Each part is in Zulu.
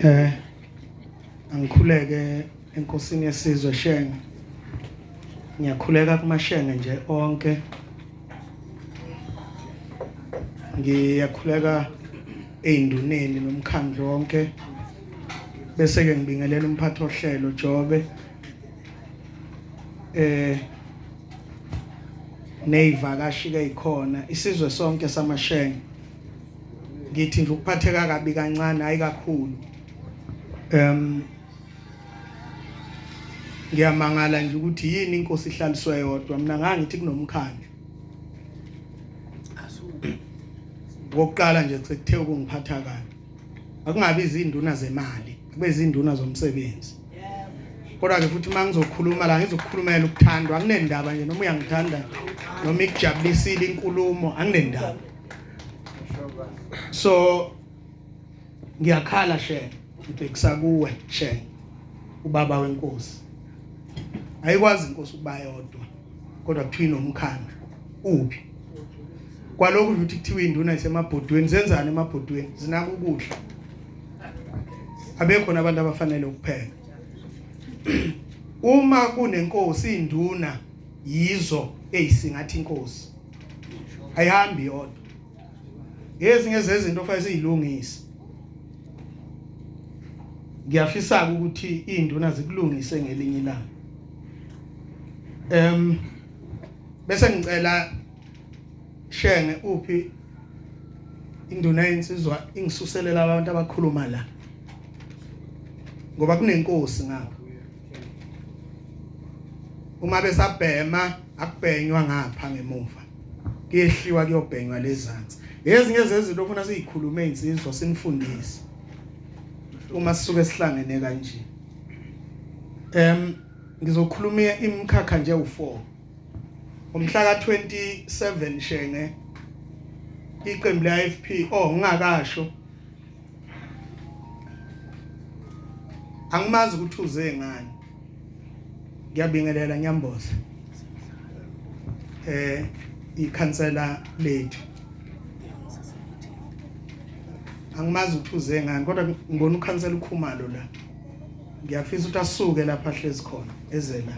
Eh angikhuleke enkosini yesizwe Shenge. Ngiyakhuleka kumashenge nje onke. Ngiyakhuleka einduneni nomkhandlu wonke. Bese ke ngibingelela umphathi ohlelo Jobe. Eh nezivakashi ke ikhona isizwe sonke samashenge ngithi nje ukuphatheka kabi kancane hayi kakhulu em ngiyamangala nje ukuthi yini inkosi ihlaliswe yodwa mina ngangithi kunomkhandlu ngokuqala nje sekuthe ukungiphatha kabi akungabi izinduna zemali kube izinduna zomsebenzi kodwa ke futhi uma ngizokhuluma la ngizokukhulumela ukuthandwa anginendaba nje noma uyangithanda noma ikujabulisile inkulumo anginendaba so ngiyakhala shenge ngibhekisa kuwe shenge ubaba wenkosi ayikwazi inkosi ukuba yodwa kodwa kuthiwa nomkhandlu uphi kwalokhu ukuthi kuthiwa induna isemabhodweni zenzani emabhodweni zinaka ukudla abekho nabantu abafanele ukupheka uma kunenkosi induna yizo eyisingathi inkosi ayihambi yodwa ngezinye zezinto okufanele siyilungise ngiyafisa ukuthi induna zikulungise ngelinye ilanga em bese ngicela shenge uphi induna yensizwa ingisuselela abantu abakhuluma la ngoba kunenkosi ngapha uma besabhema akubhenywa ngapha ngemuva kuyehliwa kuyobhenywa lezansi ezinye zezinto ofuna sizikhulume insizwa sinifundise uma sisuke sihlangene kanje em ngizokhuluma imkhakha nje u4 umhla ka 27 shenge iqembu le IFP oh ngingakasho angimazi ukuthi uze ngani ngiyabingelela ngiyamboza eh ikhansela lethu angimazi ukuthi uze ngani kodwa ngibona ukhansela ukhumalo la ngiyafisa ukuthi asuke lapha ahlezi khona ezela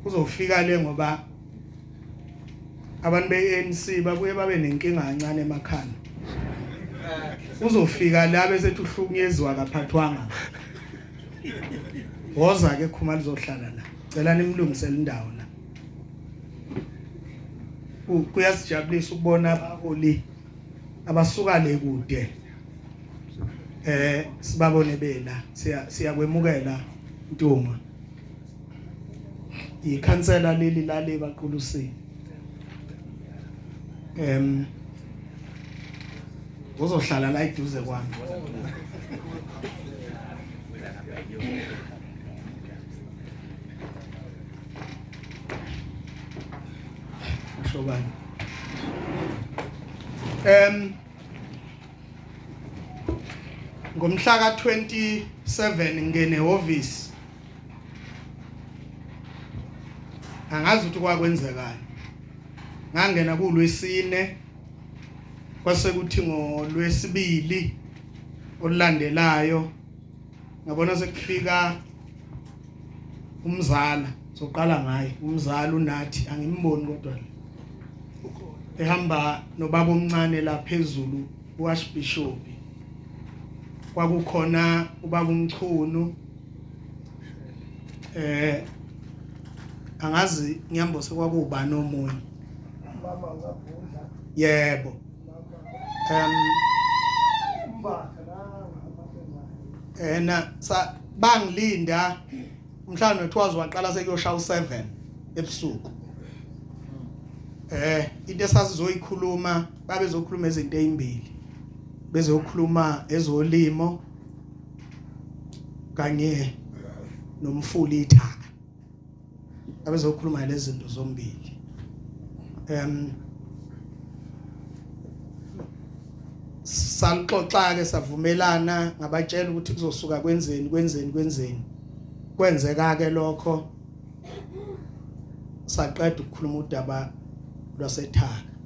uzofika le ngoba abantu be-ANC babuye babe nenkinga kancane emakhanda uzofika la bese tuhlukunyezwa kaphathwanga woza ke khumalo uzohlala la cela nimlungisele indawo la kuyasijabulisa ukubona abaholi abasuka le kude eh sibabone bela siyakwemukela ntuma ikhansela leli lale baqulusini em uzohlala la iduze kwami shobani em ngomhla ka 27 ngene office angazi ukuthi kwakwenzekani ngangena kulwesine kwasekuthi ngolwesibili olulandelayo ngabona sekufika umzala soqala ngaye umzala unathi angimboni kodwa ehamba nobaba omncane la phezulu uArchbishop kwakukhona ubaba umchunu eh angazi ngiyambo sekwakubani omunye mama ngabhudla yebo um ena sa bangilinda mhlawumbe kuthiwa waqala sekuyoshaya u7 ebusuku eh into esasizoyikhuluma babezokhuluma izinto ezimbili bezokhuluma ezolimo kanye nomfuli ithaka abezokhuluma lezi zinto zombili em salixoxa ke savumelana ngabatshela ukuthi kuzosuka kwenzeni kwenzeni kwenzeni kwenzeka ke lokho saqeda ukukhuluma udaba lwasethaka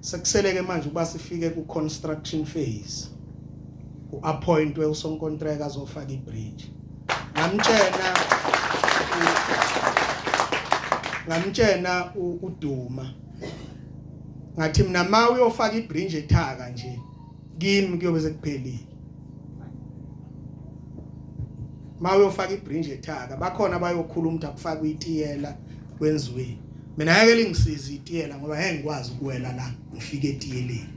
Sekusele ke manje uba sifike ku construction phase. U appointwe usonkontraka azofaka i bridge. Ngamtshena ngamtshena uduma. Ngathi mina ma uyofaka i bridge ethaka nje kimi kuyobe sekuphelile ma uyofaka ibringe ethaka bakhona bayokhuluma ukuthi akufakwe itiyela kwenziwe mina ngeke lingisize itiyela ngoba ngeke ngikwazi ukuwela la ngifike etiyeleni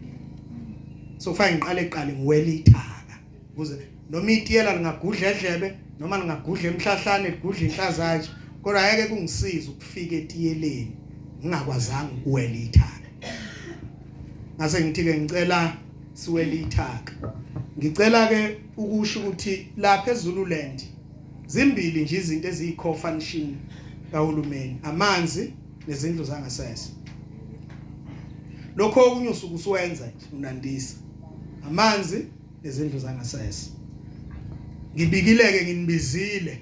so kufanele ngiqale qale ngiwele ithaka ukuze noma itiyela lingagudla edlebe noma lingagudla emhlahlane ligudla inhlazatshe kodwa ayeke kungisiza ukufika etiyeleni ngingakwazanga ukuwela ithaka ngase ngithi ke ngicela siwela ithaka ngicela ke ukusho ukuthi lapha eZululand zimbili nje izinto eziyi-co-function kahulumeni amanzi nezindlu zangasese lokho okunye usuke usuwenza nje unandisa amanzi nezindlu zangasese ngibikileke nginibizile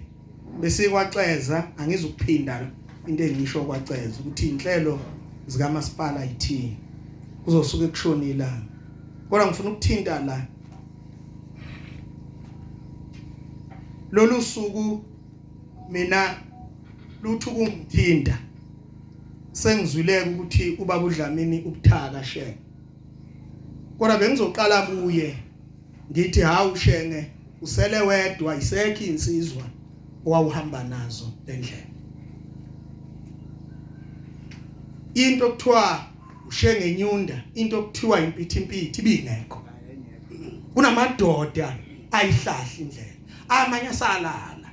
bese kwaxeza angizukuphinda into engisho kwaxeza ukuthi inhlelo zikamasipala yithini kuzosuke kushona ilanga kodwa ngifuna ukuthinta la lolu suku mina luthu kungithinta sengizwileke ukuthi ubaba uDlamini ubuthaka shenge kodwa bengizoqala kuye ngithi hawu shenge usele wedwa isekho insizwa owawuhamba nazo lendlela into okuthiwa ushenge nyunda into okuthiwa impithi impithi ibingekho kunamadoda ayihlahla indlela amanye asalala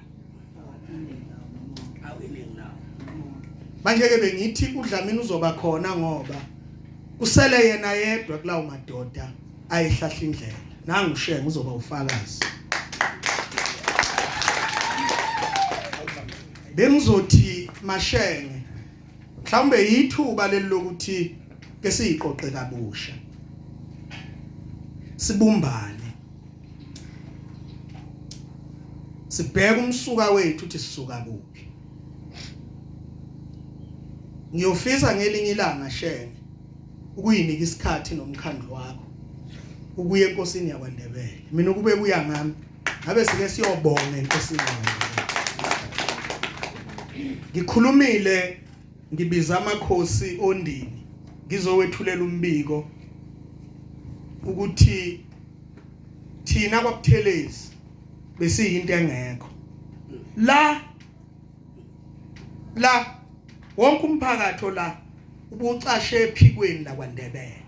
manje ke bengithi udlamini uzoba khona ngoba kusele yena yedwa kulawo madoda ayihlahla indlela nangu shenge uzoba ufakazi bengizothi mashenge mhlawumbe yithuba leli lokuthi ke siyiqoqe kabusha sibumbane sibheke umsuka wethu ukuthi sisuka kuphi Ngiyofisa ngelinye ilanga shenge ukuyinika isikhathi nomkhandlu wakho ukuya enkosini yakwaNdebele mina ukube kuya ngami ngabe sike siyobonga enkosini yakwaNdebele ngikhulumile ngibiza amakhosi ondini ngizowethulela umbiko ukuthi thina kwabuthelezi besiyinto engekho la la wonke umphakathi ola ubucashe ephikweni lakwaNdebele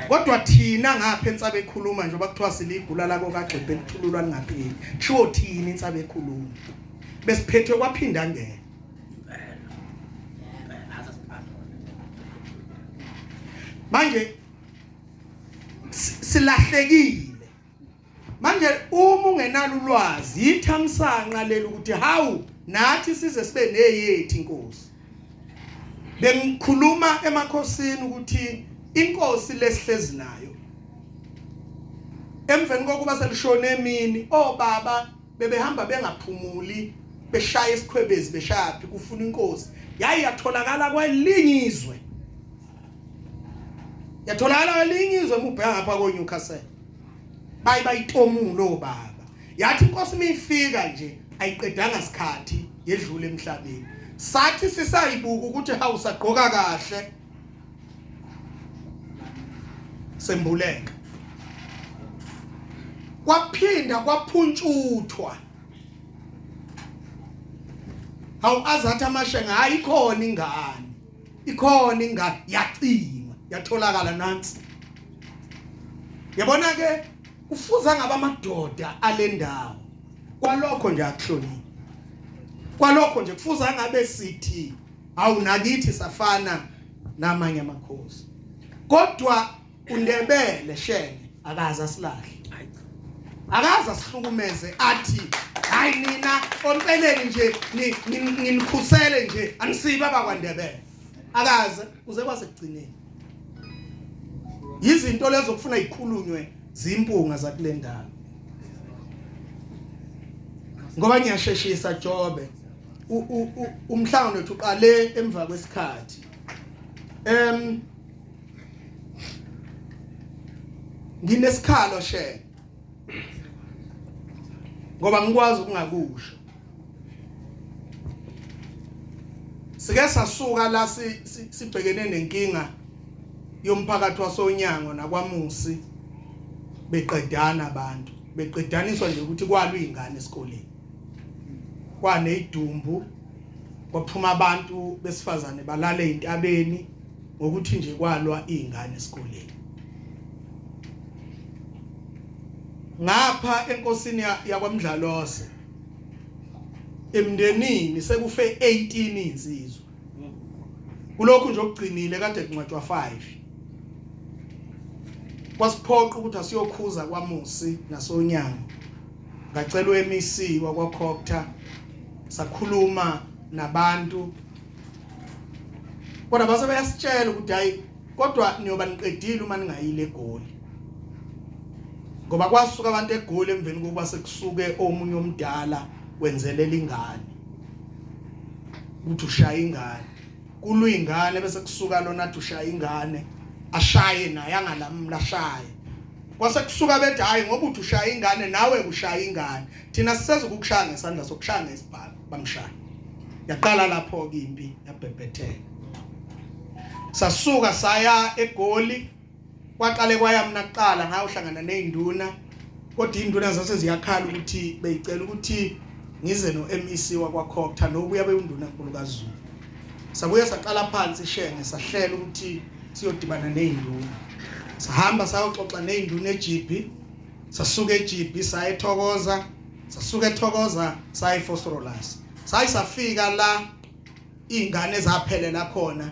kodwa thina ngapha entsaba ekhuluma nje bakuthiwa siligula la kokagxibhe lithululwa lingapheli kushiwo thina insaba ekhuluma besiphethwe kwaphinda ngeke manje silahlekile manje uma ungenalo ulwazi yithamsanqa leli ukuthi hawu nathi size sibe neyethi inkosi bengikhuluma emakhosini ukuthi inkosi lesihlezi nayo emveni kokuba selishone emini obaba bebehamba bengaphumuli beshaya isikhwebezi beshaya phi kufuna inkosi yayi yatholakala kwelinye izwe yatholakala kwelinye izwe mubheka ngapha ko Newcastle baye bayitomula obaba yathi inkosi mifika nje ayiqedanga sikhathi yedlule emhlabeni sathi sisayibuka ukuthi hawu sagqoka kahle sembuleka kwaphinda kwaphuntshuthwa hawu azathi amashenga hayi khona ingane ikhona ingane yacingwa yatholakala nansi yabona ke ufuza ngaba amadoda alendawo kwalokho nje akuhloniphi kwalokho nje kufuza ngabe sithi awunakithi safana namanye amakhosi kodwa undebele shenge akaza silahle akaza sihlukumeze athi hayi nina ompeleni nje nginikhusele nje anisiba bakwandebele akaze uze kwasekugcineni yizinto lezo kufuna ikhulunywe zimpunga zakulendawo ngoba ngiyasheshisa jobe umhlangano wethu uqale emva kwesikhathi em nginesikhalo shela ngoba ngikwazi ukungakusho sike sasuka la sibhekene nenkinga yomphakathi wasonyango nakwamusi beqedana abantu beqedaniswa nje ukuthi kwalwa izingane esikoleni kwane idumbu kwaphuma abantu besifazane balale entabeni ngokuthi nje kwalwa izingane esikoleni ngapha enkosini yakwamdlalose emndenini sekufe 18 insizwa kulokhu nje okugcinile kade kuncwatshwa 5 kwasiphoqa ukuthi asiyokhuza kwamusi nasonyango ngacelwa eMC wakwaCocta sakhuluma nabantu kodwa base bayasitshela ukuthi hayi kodwa niyoba niqedile uma ningayile egoli ngoba kwasuka abantu egoli emveni kokuba sekusuke omunye omdala wenzelela ingane ukuthi ushaya ingane kulwa ingane bese kusuka lona athi ushaya ingane ashaye naye angalamula ashaye kwase kusuka bethi hayi ngoba uthi ushaya ingane nawe ushaya ingane thina siseza ukukushaya ngesandla sokushaya ngesibhamu bamshaya yaqala lapho ke impi yabhebhetheka sasuka saya egoli kwaqale kwaya mina kuqala ngayo uhlangana nezinduna kodwa induna zase ziyakhala ukuthi beyicela ukuthi ngize no MEC wakwakhokutha nokuya bewunduna nkulu kaZulu sabuye saqala phansi shenge sahlela ukuthi siyodibana nezinduna sihamba sayoxoxa nezinduna eJibi sasuka eGB saya eThokoza sasuka eThokoza saya eFosrolas sayi safika la izingane zaphelela khona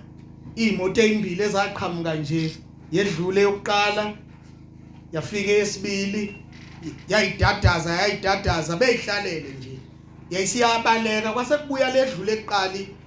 imoto ezimbili ezaqhamuka nje yedlule yokuqala yafika esibili yayidadaza yayidadaza beyihlalele nje yayisiyabaleka kwase kubuya ledlule eqali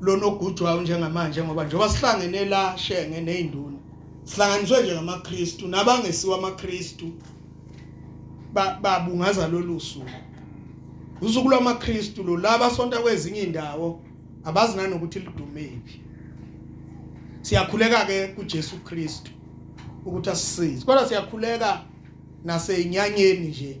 lona ogujwayo njengamanje ngoba njengoba sihlangene la shenge nezinduna sihlanganiswe nje ngamaKristu nabangesiwa amaKristu babungaza lolu suku usuku lwamaKristu lo laba sonta kwezinye indawo abazi nanokuthi lidumephi siyakhuleka ke kuJesu Kristu ukuthi asisize kodwa siyakhuleka nasenyanyeni nje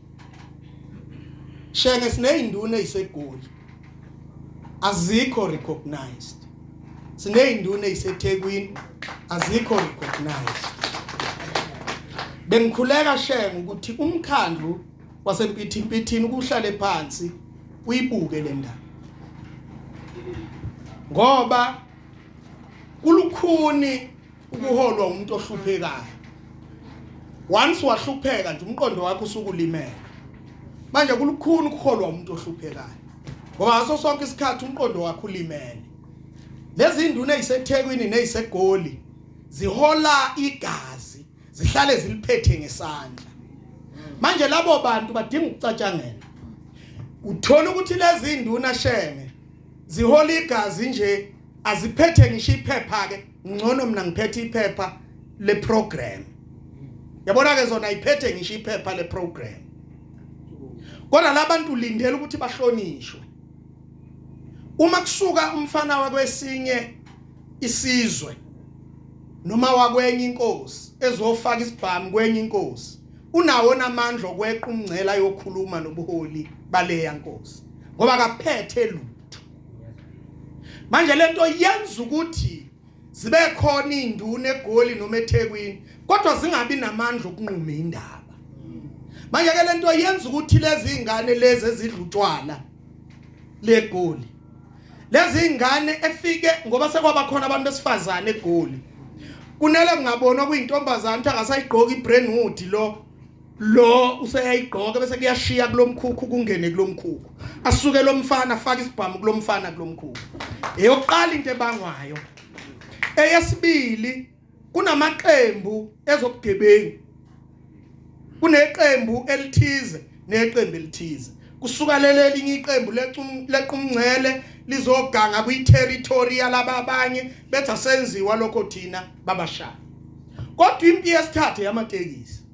Shenge sineyinduna eziseGoli. Azikho recognized. Sineyinduna eziseThekwini azikho recognized. Bengikhuleka Shenge ukuthi umkhandlu waseMpithimpithini kuhlale phansi uyibuke le ndaba. Ngoba kulukhuni ukuholwa umuntu ohluphekayo once wahlupheka nje umqondo wakho usukulimela manje kulukhuni ukuholwa umuntu ohluphekayo ngoba ngaso sonke isikhathi umqondo wakho ulimele lezi nduna ezisethekwini nezisegoli zihola igazi zihlale ziliphethe ngesandla manje labo bantu badinga ukucatshangela uthola ukuthi lezi nduna shenge zihola igazi nje aziphethe ngisho iphepha ke ngcono mina ngiphethe iphepha le program yabona ke zona iphethe ngisho iphepha le program kodwa labantu lindele ukuthi bahlonishwe uma kusuka umfana wakwesinye isizwe noma wakwenye inkosi ezofaka isibhamu kwenye inkosi unawo namandla okweqa umngcela yokhuluma nobuholi baleya nkosi ngoba kaphethe lutho manje lento yenza ukuthi zibe khona induna egoli noma eThekwini kodwa zingabi namandla okunquma indaba manje ke lento yenza ukuthi lezi ingane lezi ezidlutshwala legoli lezi ingane efike ngoba sekwaba khona abantu besifazane egoli kunele ngabona kuyintombazana ukuthi akasayigqoki ibrandwood lo lo useyayigqoka bese kuyashiya kulomkhukhu kungene kulomkhukhu asuke lomfana afaka isibhamu kulomfana kulomkhukhu eyokuqala into ebangwayo eyesibili kunamaqembu ezobugebengu kuneqembu elithize neqembu elithize kusuka leli elinye iqembu lequmngcele lizoganga kwi-territory yalaba abanye bethi asenziwa lokho thina babashaya kodwa impi yesithathe yamatekisi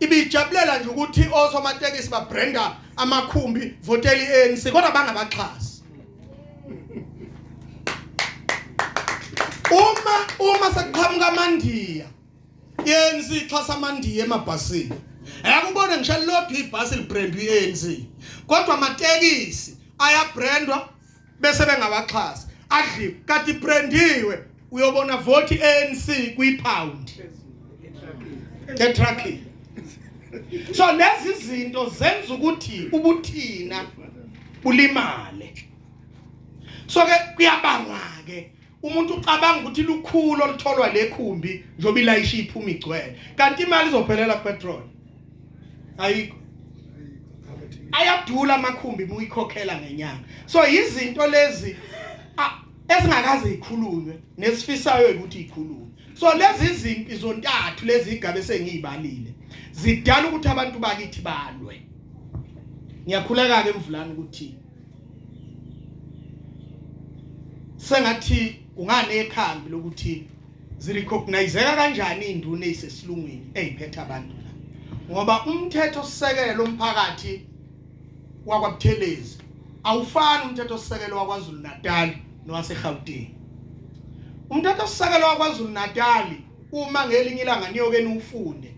ibijabulela nje ukuthi osomatekisi babrenda amakhumbi voteli ANC kodwa bangabaxhasi uma uma sekuqhamuka amandiya ANC ixhasa amandiya emabhasini ayakubona ngisho lodwa ibhasi librendwa iANC kodwa amatekisi ayabrendwa bese bengawaxhasi adliwe kati prendiwe uyobona vote ANC kwi pound etracking so lezi zinto zenza ukuthi ubuthina bulimale so ke kuyabangwa ke umuntu ucabanga ukuthi lukhulu olutholwa lekhumbi njoba ilayisha iphuma igcwele kanti imali izophelela petrol ayikho ayadula amakhumbi muyikhokhela ngenyanga so izinto lezi esingakaze ikhulunywe nesifisayo ukuthi ikhulunywe so lezi zimpi zontathu lezi igabe sengiyibalile zidala ukuthi abantu bakithi balwe ngiyakhuleka ke mvulana ukuthi sengathi ungane ekhambi lokuthi zirecognizeka kanjani induna ezisesilungwini eziphethe abantu la ngoba umthetho sisekelo umphakathi wakwabuthelezi awufani umthetho sisekelo waKwaZulu Natal nowaseGauteng umthetho sisekelo waKwaZulu Natal uma ngelinye ilanga niyokeni ufunde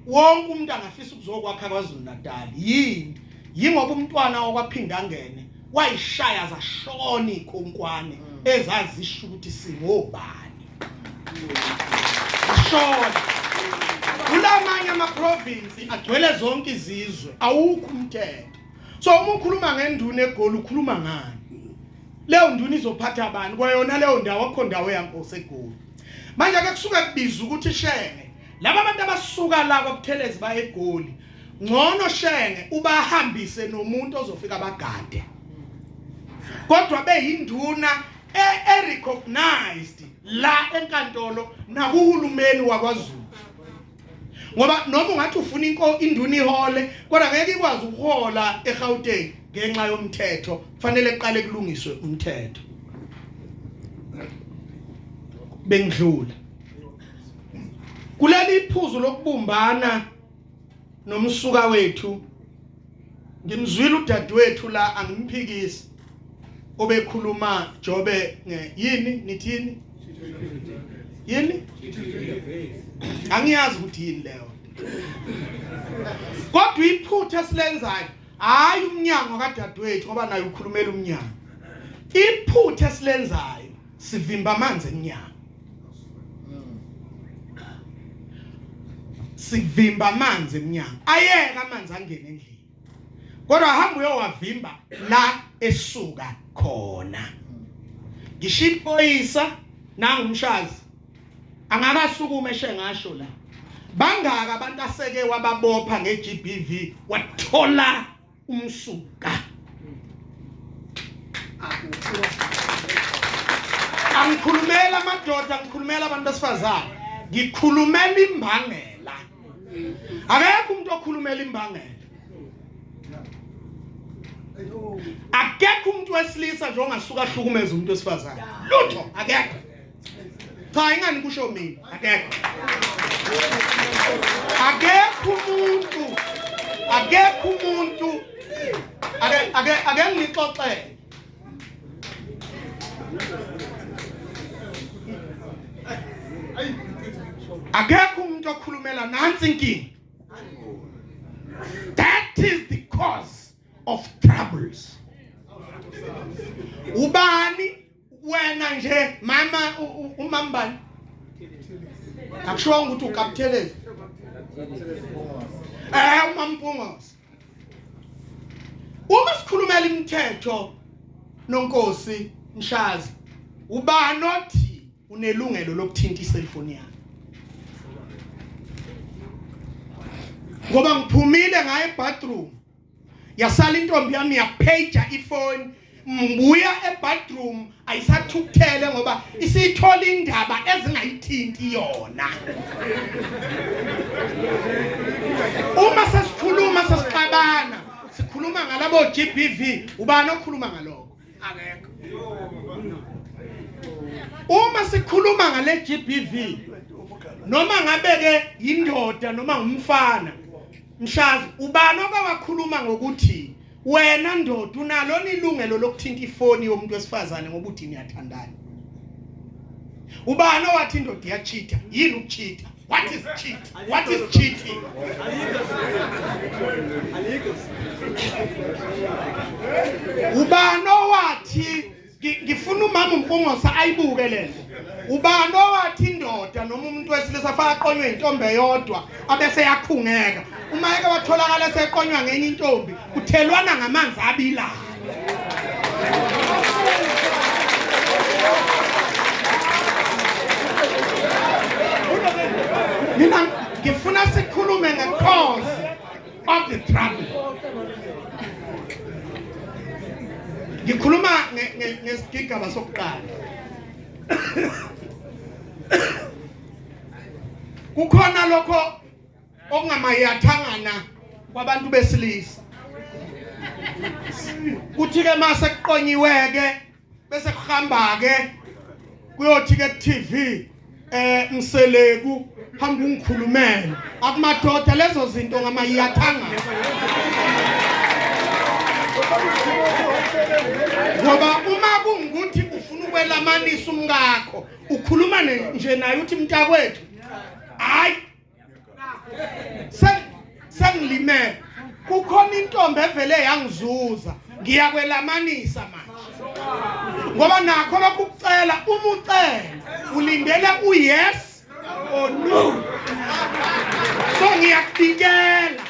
wonke umuntu angafisa ukuzokwakha kwaZulu Natal yini yingoba umntwana wakwaphindangene wayishaya zashona ikhonkwane mm. ezazisho ukuthi singobani ashona kulamanye amaprovinsi agcwele zonke izizwe awukho umthetho so uma ukhuluma ngenduna egoli ukhuluma ngani leyo nduna izophatha abantu kwayona leyo ndawo akho ndawo yankosi egoli manje ke kusuke kubiza ukuthi shenge laba bantu abasuka la kwaButhelezi baye eGoli ngcono shenge ubahambise nomuntu ozofika bagade kodwa beyinduna e-recognized la enkantolo nakuhulumeni wakwaZulu ngoba noma ungathi ufuna inko induna ihole kodwa ngeke ikwazi ukuhola eGauteng ngenxa yomthetho kufanele kuqale kulungiswe umthetho bengidlula kuleli iphuzu lokubumbana nomsuka wethu ngimzwile udadewethu la angimphikisi obekhuluma jobe yini nithini yini angiyazi ukuthi yini leyo kodwa iphutha silenzayo hayi umnyango kadadewethu ngoba naye ukhulumela umnyango iphutha silenzayo sivimba amanzi emnyango sivimba amanzi emnyango ayeka amanzi angene endlini kodwa hamba uyowavimba la esuka khona ngisho iphoyisa nangumshazi angakasukuma eshe ngasho la bangaka abantu aseke wababopha ngeGBV wathola umsuka angikhulumela amadoda ngikhulumela abantu besifazane ngikhulumela imbangela akekho umuntu okhulumela imbangela akekho umuntu wesilisa nje ongasuka ahlukumeza umuntu wesifazane lutho akekho cha ingani kusho mina akekho akekho umuntu akekho umuntu ake ake ake ngixoxele akekho umuntu okhulumela nansi inkinga that is the cause of troubles ubani wena nje mama umambani akushonga ukuthi ukapthelezi eh umampungosi uma sikhulumela imithetho nonkosi mshazi ubani othi unelungelo lokuthinta iselfone yakhe ngoba ngiphumile ngaye bathroom yasala intombi yami yaphaja ifoni mbuya ebadroom ayisathukuthele ngoba isithola indaba ezingayithinti yona uma sesikhuluma sesixabana sikhuluma ngalabo GBV ubani okhuluma ngaloko akekho uma sikhuluma ngale GBV noma ngabe ke yindoda noma ngumfana mshazi ubani obawakhuluma ngokuthi wena ndoda unalo nilungelo lokuthinta ifoni yomuntu wesifazane ngoba uthi niyathandana ubani owathi indoda iyachitha yini ukuchitha What is cheat? What is cheating? Ubani owathi ngifuna umama uMpungosa ayibuke lento. Ubani owathi indoda noma umuntu wesilisa faka qonywe intombi eyodwa abese yakhungeka. Uma eke watholakala seqonywa ngenye intombi kuthelwana ngamanzi abilayo mina ngifuna sikhulume nge-cause of the trouble ngikhuluma ngesigigaba sokuqala kukhona lokho okungamayathangana kwabantu besilisa kuthi ke mase kuqonyiweke bese kuhamba ke kuyothi ke TV eh mseleku hamba ungikhulumela akumadoda lezo zinto ngamayathanga ngoba uma kungukuthi ufuna ukwelamanisa umkakho ukhuluma nje naye uthi mntakwethu hayi sengilimele kukhona intombi evele yangizuza ngiyakwelamanisa manje ngoba nakho lokhu kucela uma ucela ulindele uyes or no so ngiyakudikela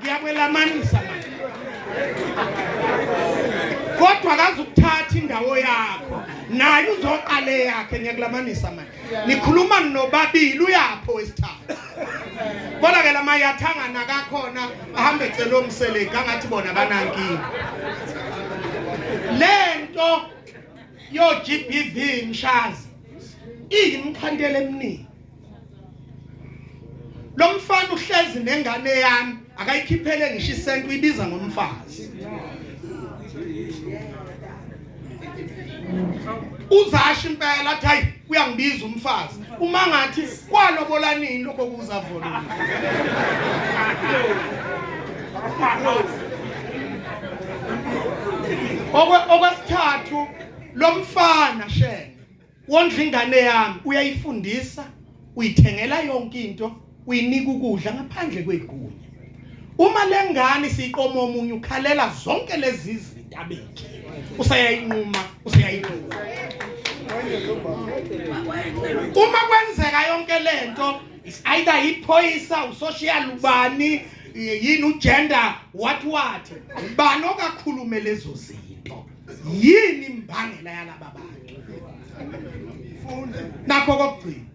ngiyakwelamanisa manje kodwa akazukuthatha indawo yakho naye uzoqale yakhe ngiyakulamanisa manje nikhuluma nobabili uyapho wesithathu kodwa ke lama yathangana kakhona ahambe celo mseleki angathi bona banankinga lento yo GBV mshazi iyimkhandela eminingi lo mfana uhlezi nengane yami akayikhiphele ngisho isenti uyibiza ngomfazi uzasho impela athi hayi uyangibiza umfazi uma ngathi kwalobola nini lokho kuza vona okwesithathu lo mfana shenge wondla ingane yami uyayifundisa uyithengela yonke into uyinika ukudla ngaphandle kwegunya uma lengane siqoma omunye ukhalela zonke lezi zinto abekhe useyayinquma useyayinquma uma kwenzeka yonke lento is either iphoyisa usocial ubani yini ugender what what ubani okakhulume lezo zinto yini imbangela yalaba bantu nakho kokugcina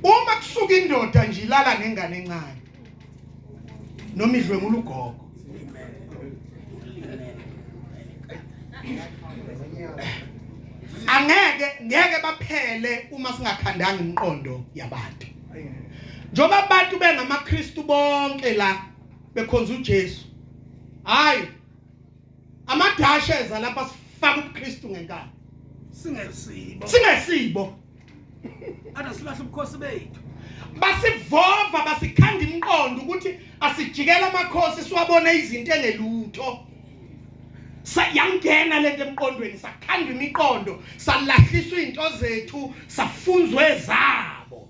uma kusuka indoda nje ilala nengane encane noma idlwengula ugogo angeke ngeke baphele uma singakhandanga imiqondo yabantu njoba abantu bengamaKristu bonke la bekhonza uJesu hayi amadasha eza lapha sifaka ubuKristu ngenkani singesibo singesibo ana silahle ubukhosi bethu basivova basikhanda imqondo ukuthi asijikela amakhosi siwabone izinto engelutho sayangena lento emqondweni sakhanda imiqondo salahliswa izinto zethu safunzwe zabo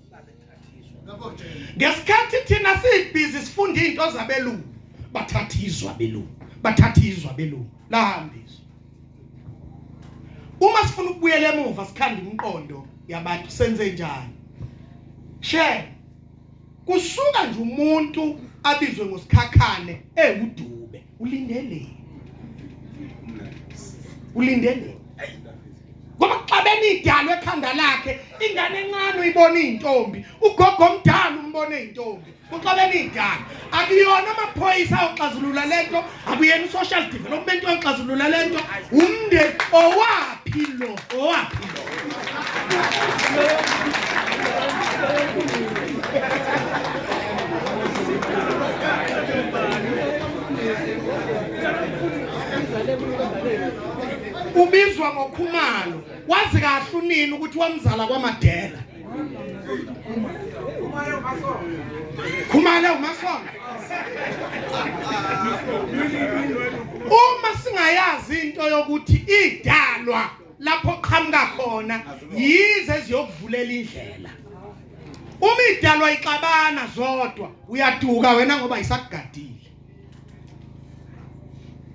ngesikhathi thina sibhizi sifunda izinto zabelungu bathatha izwa belungu bathatha izwa belungu lahambiswa uma sifuna ukubuyela emuva sikhanda imiqondo yabantu senze njani she kusuka nje umuntu abizwe ngosikhakhane ewudube ulindele ulindele ngoba xa benidalwe ekhanda lakhe ingane encane uyibona iy'ntombi ugogo omdala umbona iy'ntombi kuxa beniyidala akuyona amaphoyisa oxazulula le nto akuyena i-social development oxazulula le nto umndeni owaphi lo Owaphi lo? Ubizwa ngoKhumalo. Wazi kahle unini ukuthi wamzala kwaMadela. khumale umasonga uma singayazi into yokuthi idalwa lapho qhamuka khona yize ziyokuvulela indlela uma idalwa ixabana zodwa uyaduka wena ngoba isakugadile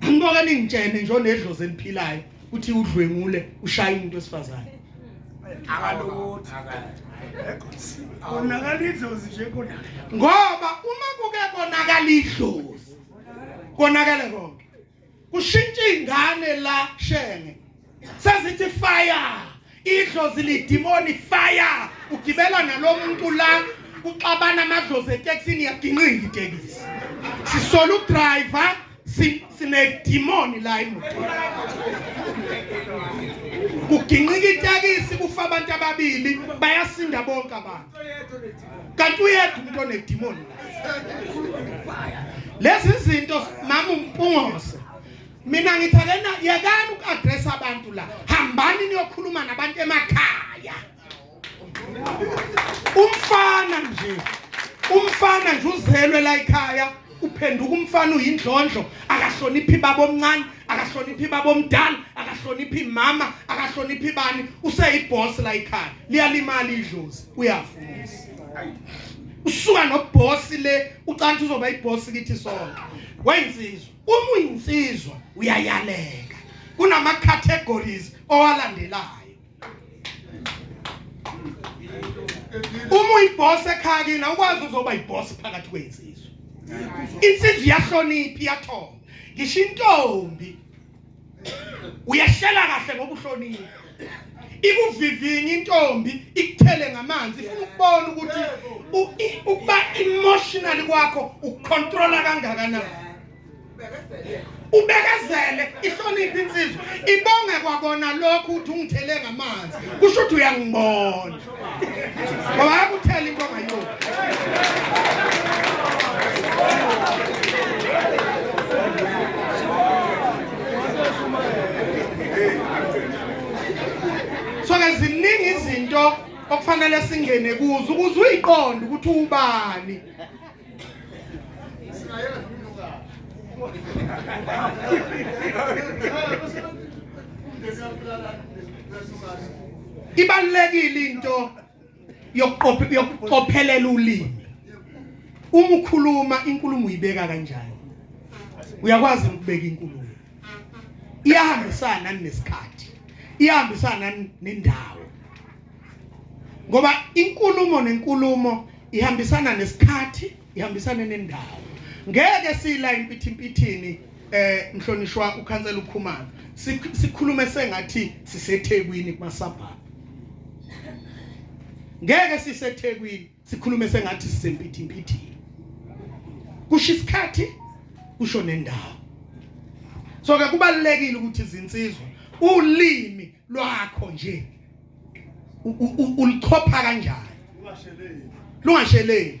Angibona ningitshene nje onedlozi eliphilayo uthi udlwengule ushaya umuntu wesifazane. Akalokuthi konakala idlozi nje konakala. Ngoba uma kuke konakala idlozi konakala konke. kushintsha ingane la shenge sezithi fire idlozi lidimoni fire ugibela nalomuntu la kuxabana amadlozi eteksini yaginqinga itekisi sisola udriver sinedimoni la emotweni kuginqika itekisi kufa abantu ababili bayasinda bonke abantu kanti uyekho umuntu onedimoni lezi zinto mama umpungose mina ngithi akena yekani uku-adressa abantu la hambani niyokhuluma nabantu emakhaya umfana nje umfana nje uzelwe la ekhaya uphenduka umfana uyindlondlo akahloniphi babomncane akahloniphi babomdala akahloniphi mama akahloniphi bani useyibhosi la ekhaya liyalimala idlozi uyafuza usuka nobhosi le ucanthi uzoba ibhosi kithi sonke weyinsizwa uma uyinsizwa uyayaleka kunama categories owalandelayo uma uyibhosi ekhaya kini awukwazi uzoba ibhosi phakathi kweyinsizwa insizwa iyahlonipha iyathomba ngisho intombi uyehlela kahle ngoba uhlonile ikuvivinye intombi ikuthele ngamanzi ifuna ukubona ukuthi ukuba emotional kwakho ukontrola kangakanani ubekezele ihloniphe insizwa ibonge kwakona lokho ukuthi ungithele ngamanzi kusho ukuthi uyangibona ngoba akuthela into ongayoni so ke ziningi izinto okufanele singene kuzo ukuze uyiqonde ukuthi ubani ibalulekile into yokuqophelela ulimi uma ukhuluma inkulumo uyibeka kanjani uyakwazi ukubeka inkulumo iyahambisana nesikhathi iyahambisana nendawo ngoba inkulumo nenkulumo ihambisana nesikhathi ihambisane nendawo ngeke sila impithi impithini eh mhlonishwa ukhansela ukhumana sikhulume sengathi sisethekwini kumasabha ngeke sisethekwini sikhulume sengathi sisempithimpithini kusho isikhathi kusho nendawo so ke kubalekile ukuthi izinsizwa ulimi lwakho nje ulichopha kanjani lungasheleli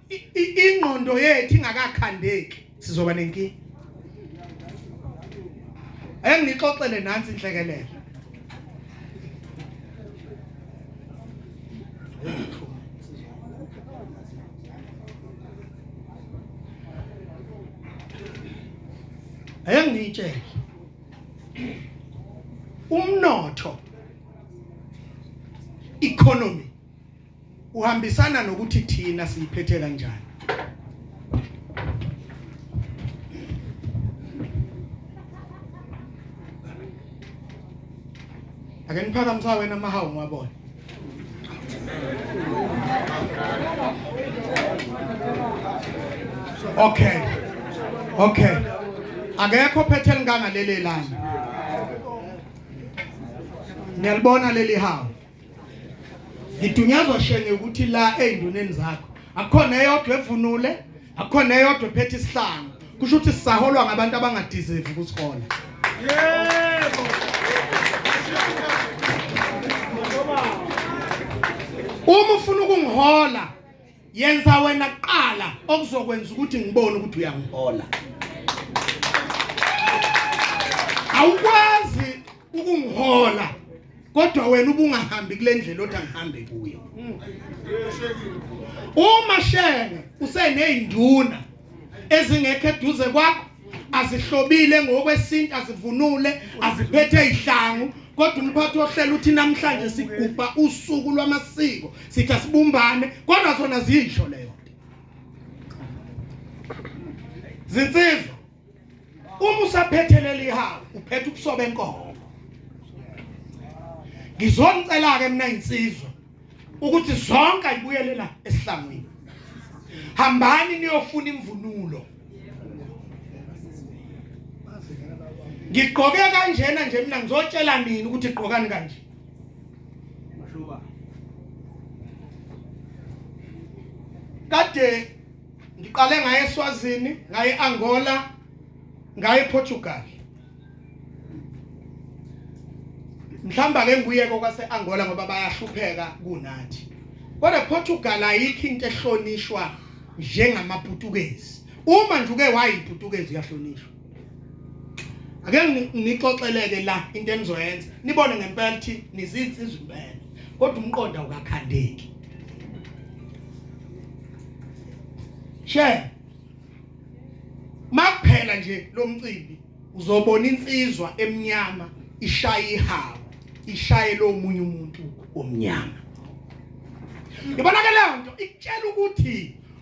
ingqondo yethu ingakakhandeki sizoba nenkinga engixoxele nansi inhlekelele engitshele umnotho economy uhambisana nokuthi thina siyiphethe kanjani ake niphakamisa wena mahawu ngwabona okay okay akekho phethe linganga leli lana niyalibona leli hawu ngidunyazwa shenge ukuthi la ey'nduneni zakho akukhona eyodwa evunule akukhona eyodwa ephethe isihlangu kusho ukuthi sisaholwa ngabantu abangadizevi ukusihola yebo uma ufuna ukungihola yenza wena kuqala okuzokwenza ukuthi ngibone ukuthi uyangihola awukwazi ukungihola kodwa wena ubungahambi kule ndlela othi angihambe kuyo uma shenge useneyinduna ezingekho eduze kwakho azihlobile ngokwesintu azivunule aziphethe izihlangu kodwa umphathi wohlelo uthi namhlanje sigubha usuku lwamasiko sithi asibumbane kodwa zona ziyisho leyo zinsizwa uma usaphethelela ihawu uphethe ubuso benkomo ngizonicela-ke mina insizwa ukuthi zonke ayibuyelela esihlangwini hambani niyofuna imvunulo ngigqoke kanjena nje mina ngizotshela nini ukuthi igqokani kanje kade ngiqale ngaye eSwazini ngaye Angola ngaye Portugal mhlamba ke nguye kwase Angola ngoba bayahlupheka kunathi kodwa Portugal ayikho into ehlonishwa njengamaPutukezi uma nje uke wayiPutukezi uyahlonishwa ake nixoxeleke la into enizoyenza nibone ngempela ukuthi nizinsizwa impela kodwa umqondo awukakhandeki she makuphela nje lo mcimbi uzobona insizwa emnyama ishaye ihawu ishaye lo munye umuntu omnyama ibonakala lento ikutshela ukuthi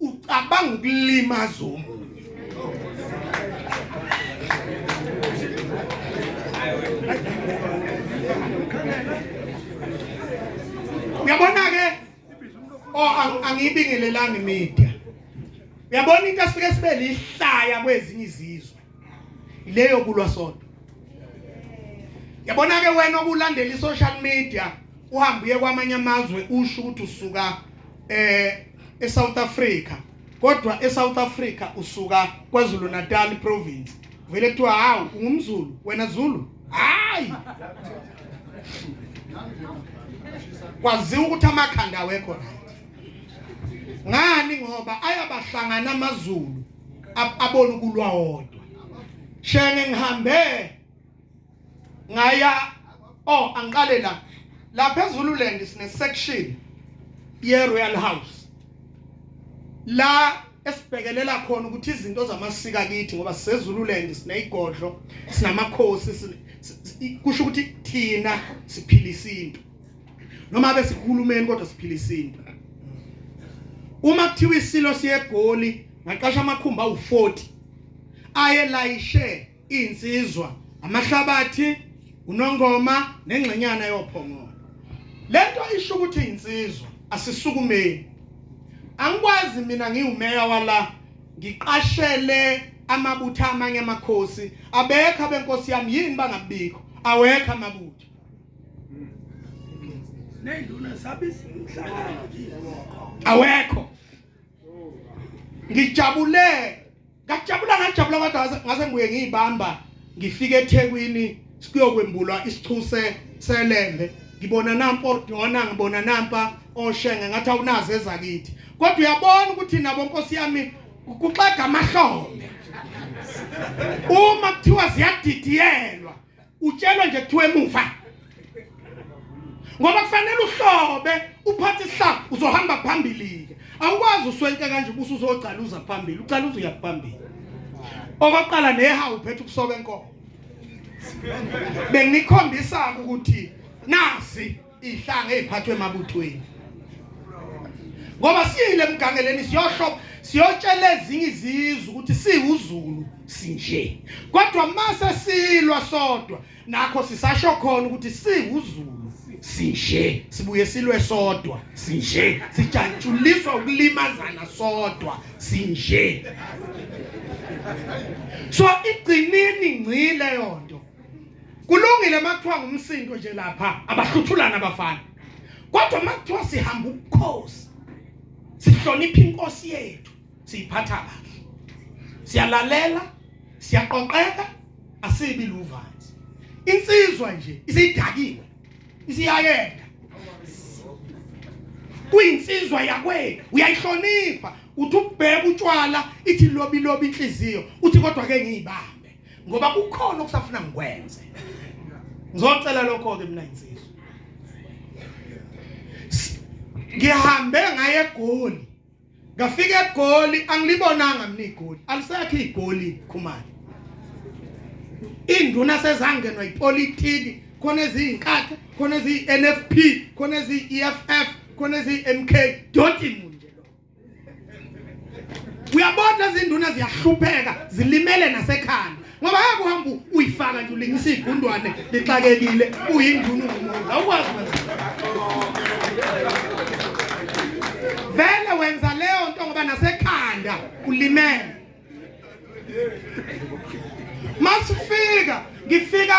ucabanga ukulimaza omunye uyabona ke oh angiyibingelelanga imedia uyabona into esike sibe lihlaya kwezinye izizwe ileyo kulwa sodwa yabona ke wena okulandela i-social media uhambe uye kwamanye amazwe usho ukuthi usuka eh eSouth Africa kodwa eSouth Africa usuka KwaZulu Natal province vele kuthiwa hawu ungumzulu wena zulu hayi kwaziwa ukuthi amakhanda awekho right ngani ngoba ayabahlangana amazulu abona ukulwa wodwa shenge ngihambe ngaya oh angiqale la lapha eZululand sine section ye Royal House la esibhekelela khona ukuthi izinto zamasika kithi ngoba sisezululand sineyigodlo sinamakhosi kusho ukuthi thina siphila isintu noma abe sihulumeni kodwa siphila isintu uma kuthiwa isilo siyegoli ngaqasha amakhumba awu40 ayelayishe insizwa amahlabathi unongoma nengxenyana yophongolo lento isho ukuthi insizwa asisukumeni angikwazi mina ngiwumeya wala ngiqashele amabutha amanye amakhosi abekho abenkosi yami yini bangabikho awekho amabutha awekho ngijabule ngajabula ngajabula kodwa ngase ngibuye ngiyibamba ngifike eThekwini siyokwembulwa isichuse selembe ngibona nampo dona ngibona nampa oshenge ngathi awunazi ezakithi kodwa uyabona ukuthi nabo nkosi yami kuxega amahlombe uma kuthiwa ziyadidiyelwa utshelwa nje kuthiwa emuva ngoba kufanele uhlobe uphathe isihlalo uzohamba phambili-ke awukwazi uswenke kanje ubusa uzogcaluza phambili ugcaluza uyaphambili okokuqala nehawu uphethe ukusoka enkomo benginikhombisa-ke ukuthi nazi ihlanga eziphathwe emabuthweni ngoba siyile emgangeleni siyohlobo siyotshela ezinye izizwe ukuthi siwuzulu sinje kodwa mase silwa sodwa nakho sisasho khona ukuthi siwuzulu sinje sibuye silwe sodwa sinje sijatshuliswa ukulimazana sodwa sinje so igcinini ngcile yonto kulungile uma kuthiwa ngumsindo nje lapha abahluthulana abafana kodwa uma kuthiwa sihamba ubukhosi sihlonipha inkosi yethu siyiphatha kahle siyalalela siyaqoqeka asibi luvanzi insizwa nje isidakiwe isiyayenda kuyinsizwa yakwenu uyayihlonipha uthi ubheka utshwala ithi lobi lobi inhliziyo uthi kodwa ke ngiyibambe ngoba kukhona okusafuna ngikwenze ngizocela lokho ke mina insizwa ngihambe ngaye egoli ngafika egoli angilibonanga mina igoli alisekho igoli khumani induna sezangenwa ipolitiki khona eziyinkatha khona eziyi-NFP khona eziyi-EFF khona eziyi-MK don't uyabona izinduna ziyahlupheka zilimele nasekhanda ngoba hake uhamba uyifaka nje ulingisa igundwane lixakekile uyinduna ungumuntu awukwazi vele wenza leyo nto ngoba nasekhanda ulimele masifika ngifika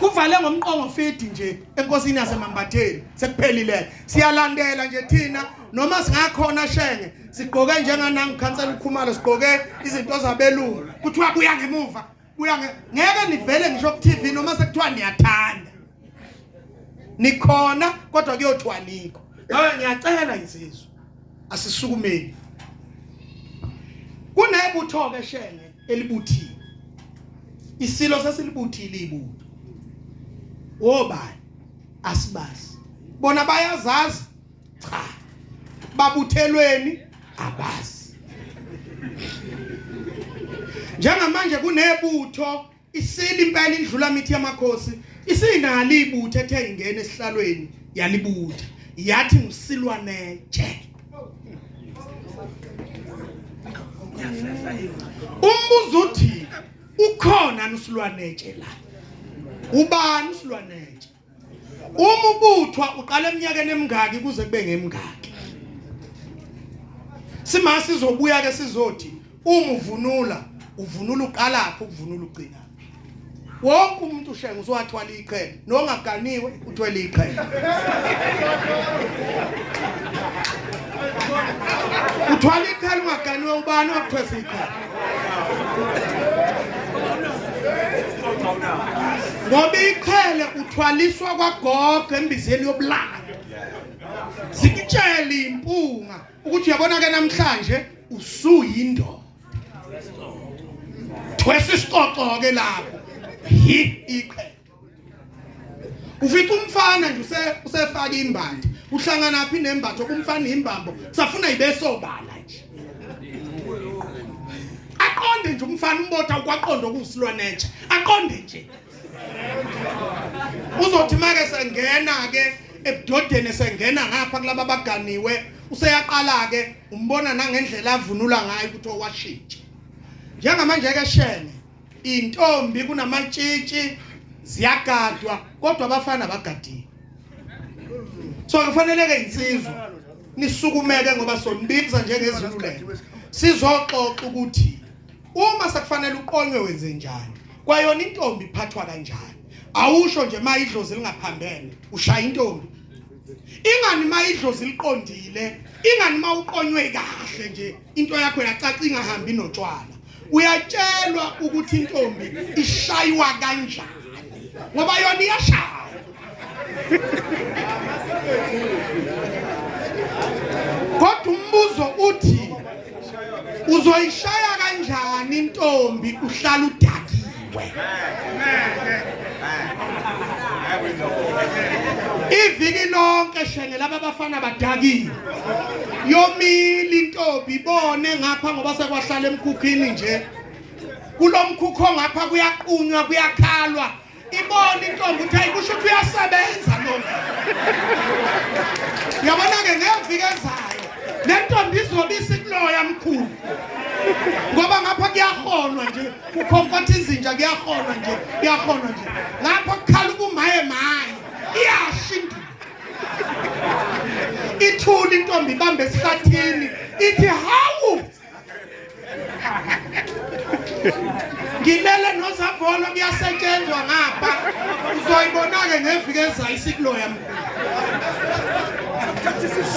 kuvale ngomqongo fidi nje enkosini yasemambatheni sekuphelile siyalandela nje thina noma singakhona shenge sigqoke njenganangu khansela ukhumalo sigqoke izinto zabelungu kuthiwa kuya ngemuva kuya ngeke nivele ngisho ku TV noma sekuthiwa niyathanda nikhona kodwa kuyothiwa nikho ngabe ngiyacela insizwa asisukumeni kunebutho ke shenge elibuthiwe isilo sasilibuthile ibutho wobani asibazi bona bayazazi cha babuthelweni abazi njengamanje kunebutho isili impela indlula mithi yamakhosi isinalo ibutho ethe ingena esihlalweni yalibutha yathi ngisilwane nje umbuzo uthi ukhona nusilwanetshe la ubani usilwanetshe uma ubuthwa uqala eminyakeni emingaki kuze kube ngemingaki simase sizobuya ke sizothi uma uvunula uvunula uqalaphi ukuvunula ugcina wonke umuntu ushenga uzowathwala iqhele nongaganiwe uthwele iqhele uthwala iqhele ungaganiwe ubani wakuthwesa iqhele ngoba iqhele uthwaliswa kwagogo embizeni yobulala zikutshele impunga ukuthi uyabona ke namhlanje usuyindoda thwesa isicoco ke lapho hi iqhe ufica umfana nje use usefaka imbandi uhlangana phi nembatho kumfana imbambo kusafuna ibesobala nje aqonde nje umfana umbotha ukwaqonda okusilwa nature aqonde nje uzothi make sengena-ke ebudodeni esengena ngapha kulaba abaganiwe useyaqala-ke umbona nangendlela avunula ngayo ukuthi owashintsha njengamanje-ke shene intombi kunamatshitshi ziyagadwa kodwa abafana abagadiwe so kufanele-ke insizwa nisukumeke ngoba sonibinza njengezulu lelo sizoxoxa ukuthi uma sekufanele uqonywe wenze njani kwayona intombi iphathwa kanjani awusho nje uma idlozi lingaphambene ushaya intombi ingani uma idlozi liqondile ingani uma uqonywe kahle nje into yakho yacaca ingahambi notshwala uyatshelwa ukuthi intombi ishaywa kanjani ngoba yona iyashaya kodwa umbuzo uthi uzoyishaya kanjani intombi uhlala udakiwe iviki lonke shenge laba bafana badakiwe yomile intombi ibone ngapha ngoba sekwahlala emkhukhini nje kulomkhukho ngapha kuyaqunywa kuyakhalwa ibona intombi ukuthi hayi kusho ukuthi uyasebenza lo yabona-ke ngeviki ezayo le ntombi izobe isikuloya mkhulu ngoba ngapha kuyaholwa nje kukhonkotha izinja kuyaholwa nje kuyaholwa nje ngapha kukhala ubumaye maye iyasha induku ithula intombi ibambe esihlathini ithi hawu ngimele nozavolo kuyasetshenzwa ngapha uzoyibona-ke ngeviki ezayo isikulo yami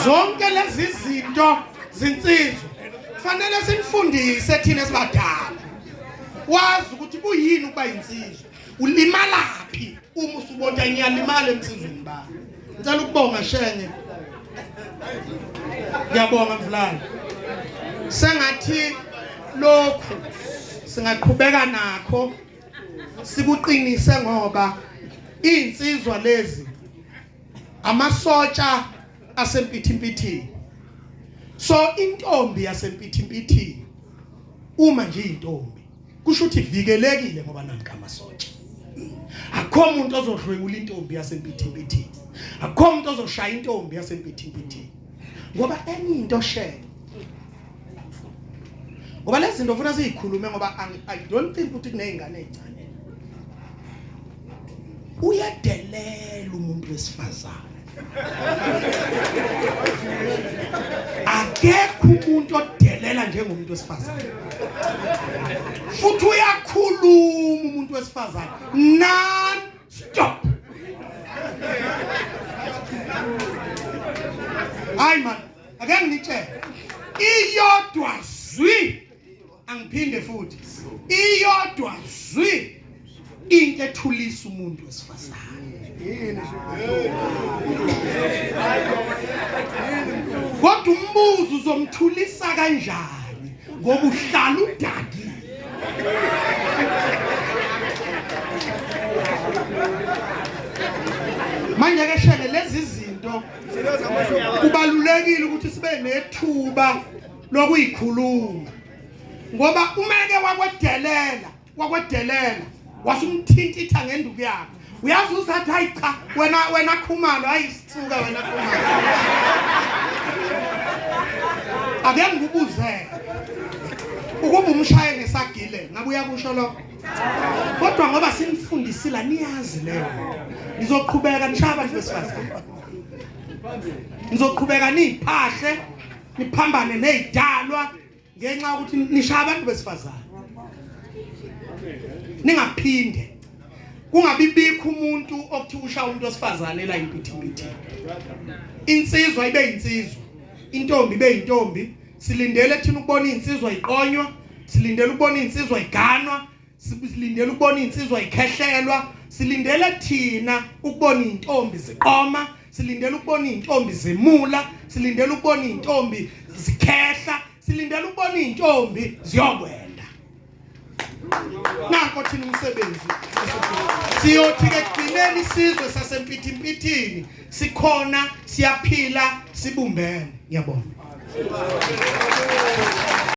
zonke lezi zinto zinsizwa kufanele sinifundise thina sibadala wazi ukuthi kuyini ukuba yinsizwa ulimalaphi uma usubona ngiyalimala emsizweni ba ngicela ukubonga shenge ngiyabonga mfulana sengathi lokhu singaqhubeka nakho sikuqinise ngoba insizwa lezi amasotsha asempithimpithini so intombi yasempithimpithini uma nje intombi kusho ukuthi vikelekile ngoba namka amasotsha akho umuntu ozodlwengula intombi yasempithimpithini akho umuntu ozoshaya intombi yasempithimpithini ngoba enye into sheke ngoba lezi zinto funa sizikhulume ngoba i don't think ukuthi kunezingane ezincane uyadelela umuntu wesifazane akekho umuntu odelela njengomuntu wesifazane futhi uyakhuluma umuntu wesifazane non stop hayi man ake ngitshele iyodwa zwi angiphinde futhi iyodwa zwi into ethulisa umuntu wesifazane kodwa umbuzo uzomthulisa kanjani ngoba uhlala udakile manje ke shele lezi zinto kubalulekile ukuthi sibe nethuba lokuyikhuluma ngoba umeke wakwedelela wakwedelela wasumthintitha ngenduku yakhe uyazi usathi hayi cha wena wena khumalo hayi sithuka wena khumalo ake ngikubuzele ukuba umshaye ngesagile ngabe uyakusho lokho kodwa ngoba sinifundisile niyazi leyo nizoqhubeka nishaya abantu besifazane nizoqhubeka niphahle niphambane nezidalwa ngenxa yokuthi nishaya abantu besifazane ningaphinde kungabi bikho umuntu okuthi usha umuntu osifazane la impithipithi insizwa ibe insizwa intombi ibe intombi silindele thina ukubona insizwa iqonywa silindele ukubona insizwa iganwa silindele ukubona insizwa ikhehlelwa silindele thina ukubona intombi ziqoma silindele ukubona intombi zimula silindele ukubona intombi zikhehla silindele ukubona intombi ziyokwenda nakho thina umsebenzi siyothi ke kugcineni isizwe sasempithimpithini sikhona siyaphila sibumbene ngiyabona